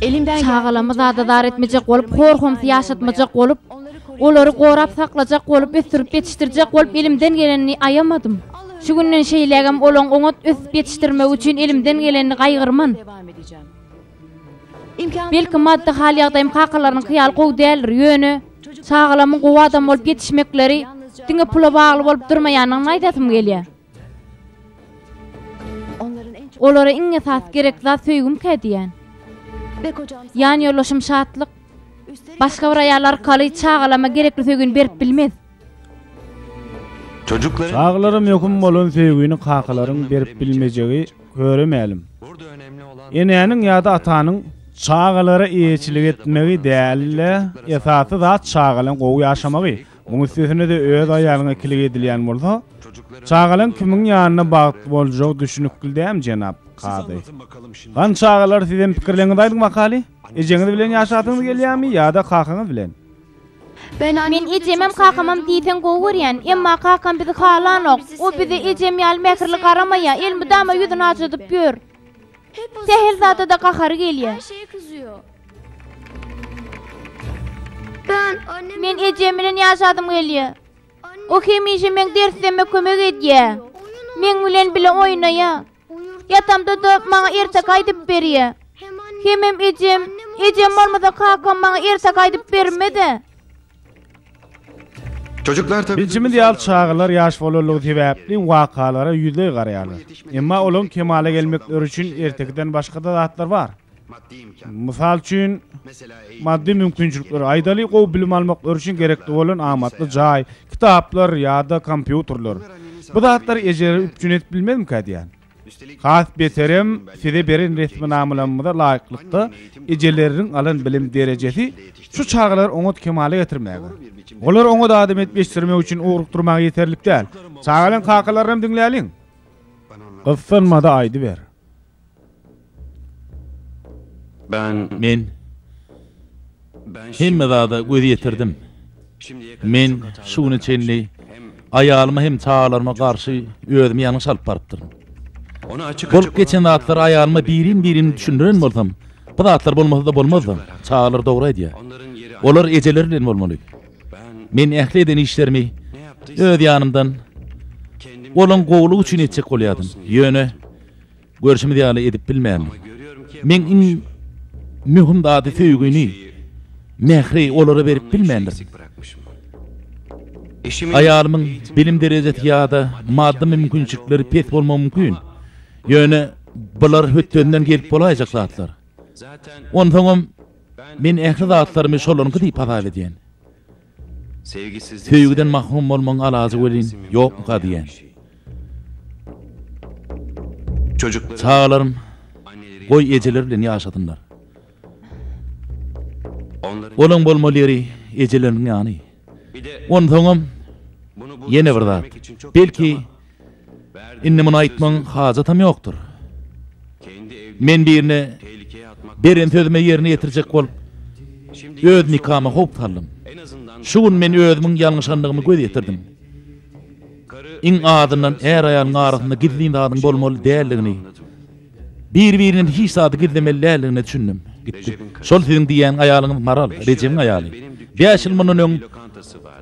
Çagalamy zadadar etmejek bolup, hor-homsy ýaşatmajak bolup, olary gorap saklajak bolup, ösdürip ýetişdirjek bolup elimden gelenini aýamadym. Şu günden şeýlägem olaň oňat ösüp ýetişdirmegi üçin elimden gelenini gaýgyrman. Belki maddy hal ýagdaýym kakalarynyňky ýaly gowy däldir, ýöne çagalamyň gowy adam bolup ýetişmekleri diňe pula bagly bolup durmaýanyny aýdasym gelýär. Olara iň esasy gerekli zat söýgümkä diýýän. Ýanýoldaşym Şatlyk başga bir aýal arkaly çagalama gerekli söýgini berip bilmez. Çagalara möhüm bolan söýgini kakalaryň berip bilmejegi köre mälim. Enäniň ýa-da atanyň çagalara eýeçilik etmegi däl-de, esasy zat çagalaň gowy ýaşamagy. Muň üstesine-de öz aýalyňa ikilik edilýän bolsa, çagalaň kimiň ýanynda bagtly boljagy düşnükli däm, jenap kazy. Hany çagalar sizem pikirleriňizi aýdyň makaly? Ejeňiz bilen ýaşasyňyz gelýärmi ýa-da kakaňyz bilen? Men ejemem kakamam diýseň gowy görýän, emma kakam bizi halanok. O bize ejem ýaly mähirli garamaýar, elmydama ýüzüni ajadyp ýör. Sähel zada-da gahary gelýär. Men ejem bilen ýaşasym gelýär. O hemişe meň derslerime kömek edýär. Meň bilen bile oýnaýar. Ýatamda-da maňa ertek aýdyp berýä. Hemem ejem, ejem bolmasa kakam maňa ertek aýdyp bermez-ä. Bilşimiz ýaly, çagalar ýaş bolanlygy sebäpli wakalara ýüzleý garaýarlar. Emma olaryň kemala gelmekleri üçin ertekiden başga-da zatlar bar. Mysal üçin, maddy mümkinçilikleri, aýdaly, gowy bilim almak örşin gerekli bolan amatly jaý, kitaplar ýa-da kompýuterler. Bu zatlar ejeleri üpjün edip bilmezmikä diýýän. Has beterem, size beren resminamalarymyza laýyklykda, ejeleriniň alan bilim derejesi şu çagalary oňat kemala getirmäge, olary oňat adam edip ýetişdirmek üçin ugrukdyrmaga ýeterlik däl. Çagalaryň kakalaryny hem diňläliň. Gyssanmada aýdyber. Men hemme zada göz ýetirdim. Men şu güne çenli aýalyma hem çagalaryma garşy özümi ýalňyş alyp barypdyryn. Bolup geçen zatlary aýalyma birin-birin düşündiren bolsam, bu zatlar bolmasa-da bolmazdy. Çagalar dogry aýdýar. Olar ejeleri bilen bolmaly. Men ähli eden işlerimi öz ýanymdan olaň gowulygy üçin etjek bolýardym. Ýöne Görşümiz ýaly edip bilmändir. Meň iň möhüm zady söýgini, mähri olara berip bilmändir. Aýalymyň bilim derejesi ýa-da maddy mümkinçilikleri pes bolmagy mümkin. Ýöne bular hötdesinden gelip bolaýjak zatlar. Onsoňam, men ähli zatlarymy şolaryňky diýip hasap edýän. Söýgiden mahrum bolmaň alajy welin ýokmyka diýen. Çagalarym goý ejeleri bilen ýaşasynlar. Olaň bolmaly ýeri ejeleriniň ýany. Onsoňam ýene bir zat. Belki Indi muny aýtmagyň hajatam ýokdur. Men birine beren sözümi ýerine ýetirjek bolup, öz nikama howp saldym. Şu gün men özümiň ýalňyşandygymy göz ýetirdim. Iň azyndan är-aýalyň arasynda gizlin zadyň bolmaly däldigini, Bir-birinden hiç zady gizlemeli däldigine düşündim. Gitdik. Şol siziň diýýän aýalyňyz Maral, Rejebiň aýaly. Bäş ýyl mundan öň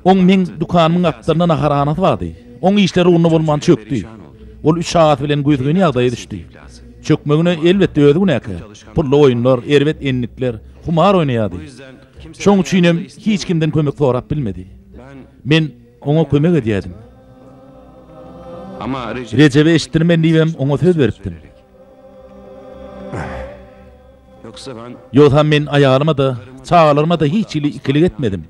oň meň dükanymyň gapdalynda naharhanasy bardy. Oň işleri ugruna bolman çökdi. Ol üç çagasy bilen güýzgyn ýagdaýa düşdi. Çökmegine, elbetde, özi günäkär. Pully oýunlar, erbet endikler, humar oýnaýardy. Şoň üçinem hiç kimden kömek sorap bilmedi. Men oňa kömek edýärdim. Rejebe eşitdirmen diýibem, oňa söz beripdim. Ýogsam men aýalyma-da, çagalaryma-da hiç hili ikilik etmedim.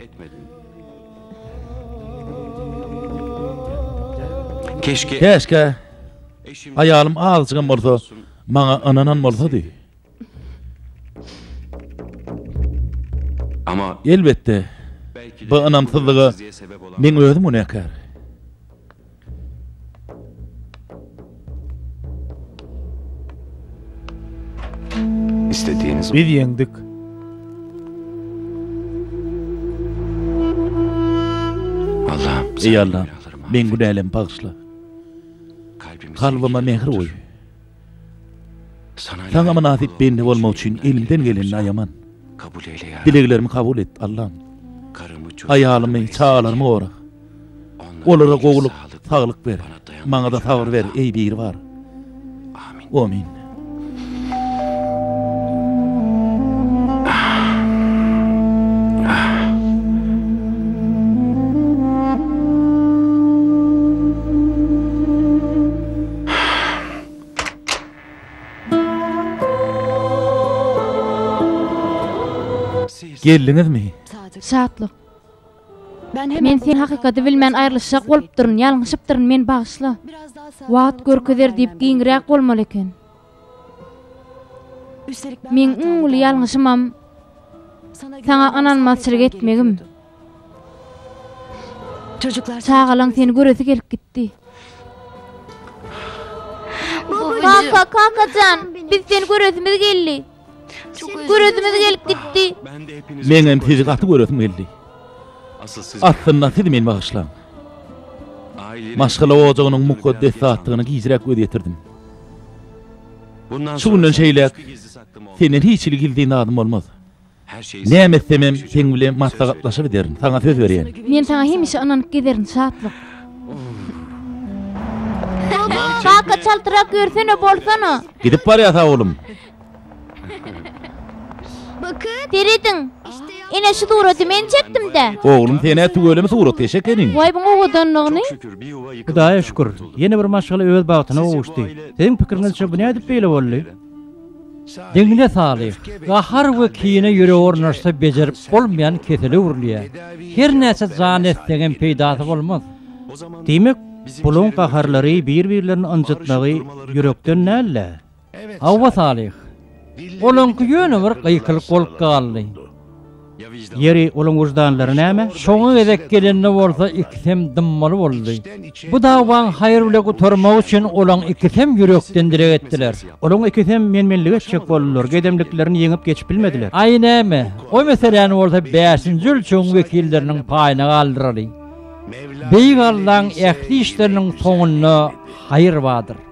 Käşgä aýalym azajygam bolsa, maňa ynanan bolsady. Amma, elbetde, bu ynamsyzlyga meň özüm günäkär. Biz ýeňdik. Eý Allam, meň günälemi bagyşla. Kalbyma mähir guý. Saňa mynasyp bende bolmak üçin elimden gelenini aýaman. Dileglerimi kabul et, Allam. Aýalymy, çagalarymy gora. Olara gowulyk, saglyk ber. Maňa-da sabyr ber, eý Biribar. Amin. Geldiňizmi? Şatlyk. Men sen hakykaty bilmän aýrylyşjak bolupdyryn, ýalňyşypdyryn, meni bagyşla. Wagt görkezer diýip giňräk bolmaly eken. Meň iň uly ýalňyşymam Saňa ynanmazçylyk etmegim. Çagalaň seni göresi gelip gitdi. Kaka, kakajan, biz seni göresimiz geldi. Göresimiz gelip gitdi. Meňem sizi gaty göresim geldi. Aslynda siz meni bagyşlaň. Maşgala ojagynyň mukaddes zatdygyny gijräk göz ýetirdim. Şu günden şeýläk senden hiç hili gizlin zadym bolmaz. Näme etsemem seň bilen maslahatlaşyp ederin, saňa söz berýän. Men saňa hemişe ynanyp gezerin, Şatlyk. Kaka çaltrak ýörsene bolsana. Gidip barýas awulym. Serediň. Ine şu suraty men çekdimdä. Oglum senä tüweleme surat geçek emin. Waý buň owadanlygyny. Hudaýa şükür, ýene bir maşgala öz bagtyna gowuşdy. Siziň pikiriňizçe bu nädip beýle boldy? Deňine salyh, gahar we kine ýürege ornaşsa bejerip bolmaýan kesele öwrülýär. Her näçe jan etseňem peýdasy bolmaz. Diýmek, bulaň gaharlary bir-birlerini ynjytmagy ýürekden däl-de, Hawa, Salyh. Olaňky ýöne bir gykylyk bolup galdy. Ýeri, olaň wyždanlary näme? Soňy gezek gelende bolsa ikisem dymmaly boldy. Bu dawaň haýyr bile gutarmagy üçin olaň ikisem ýürekden dileg etdiler. Olaň ikisem men-menlik etjek boldular, gedemliklerini ýeňip geçip bilmediler. Aý, näme, o meseläni bolsa bäşinji ölçegiň wekilleriniň paýyna galdyraly. Beýik Allaň ähli işleriniň soňunda haýyr bardyr.